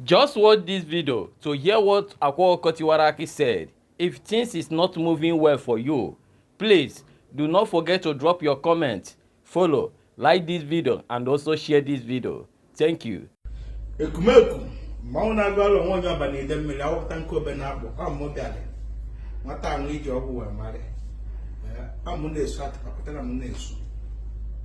Just watch this video to hear what Akwa Ọkụkọ Tiwara Akị said. If things is not moving well for you, please do not forget to drop your comment, follow, like this video and also share this video. Thank you. Ekumeku, mmanwụ na-agụ alụ onwe onye ọba na-ede mmiri awụpụta nke obe na-akpụ amụ bịara nwata ahụ eji ọgwụ wee marị amụ na-esu atụpapụtara m na-esu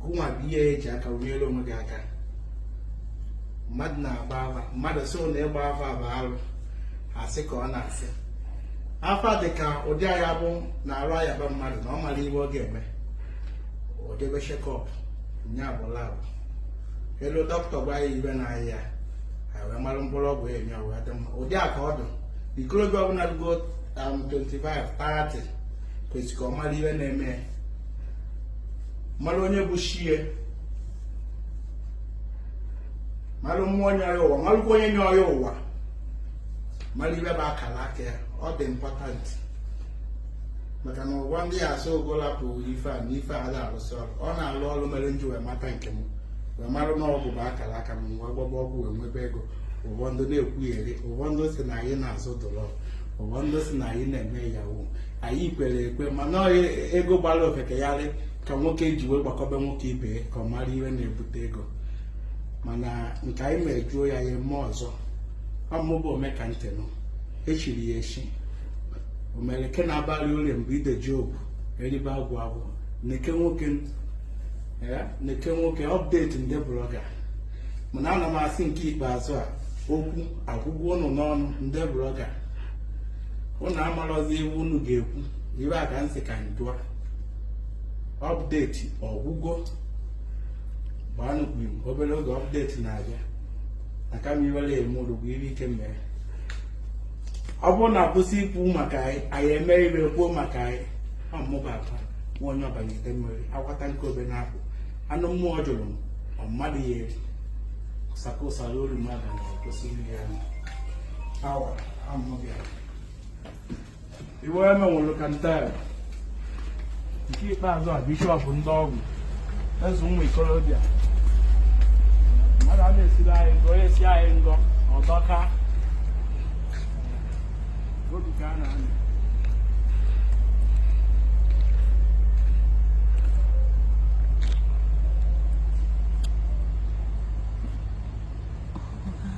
gụnwa bụ ihe eji aka nyere onwe gị aka mmadụ na-agba afa mmadụ sị na ịgba afa bụ arụ asị ka ọ na-asị afa dị ka ụdị ya bụ na arụ yaba mmadụ na ọ mara ihe ọ ga-eme o jebe checkup nya bụ lab elu dọkịta gwa ya ibe na-aya ya wee mara mkpụrụ ọgwụ enye ọ wee dị mma ụdị a ka ọ dị ikorobịa ọbụla rugo 25 30 kwesịrị ka ọ mara ihe na-eme mara onye bụ chi ya mara mmụọ nye ya ụwa marụkwa onye nye ya ụwa mara ibe bụ akara aka ya ọ dị important maka na ụfọdụ ya-asị gị rapụ ife a na ife a da arụsị ọrụ ọ na-alụ ọrụ mere nji wee mata nke m wee mara na ọgwụ bụ akara aka m wee gbaba ọgwụ wee nwebe ego ụfọdụ na-ekwugheri ụfọdụ si na anyị na-azụ drug ụfọdụ si na anyị na-eme Yahoo anyị kwere ekwe mana ọ ego gbara ofeke gharị ka nwoke ji wee gbakọba nwoke ibe ya ka ọ mara ihe na-ebute ego mana nke anyị mejuo ya ya eme ọzọ ọmụbụ ome ka ntị nụ echiri ya echi omereke na-abalị ule mgbe ideji obu eribe agwụ agwụ neke nwoke eh, neke nwoke update ndị blogger mana ana m asị nke ikpeazụ a okwu agwụgwo unu n'ọnụ ndị blogger unu amarọzi ibe unu ga-ekwu ibe a ka nsị ka njụa update ọ gwụgo gbaanụ kwim obere oge update na-abịa na kama iwere eme ụlọ bụ ibe ike mere ọ bụrụ na akwụsị ikwu maka anyị anyị eme ibe e kwuo maka anyị ọ mụba akwa nwa onye ọbanyete mmiri akwata nke obe na-apụ anụ mmụọ jụrụ ọ mmadụ ya eri ụsaka ụsara olu mmadụ na-ekwesị nri ya awa iwe emenwụrụ ka title nke ikpeazụ a bishop ndị ọgwụ eze ụmụ ikorobịa mmadụ a na-esiri anyị ngọ onye si anyị ngọ ọdọka obi ka a na-anọ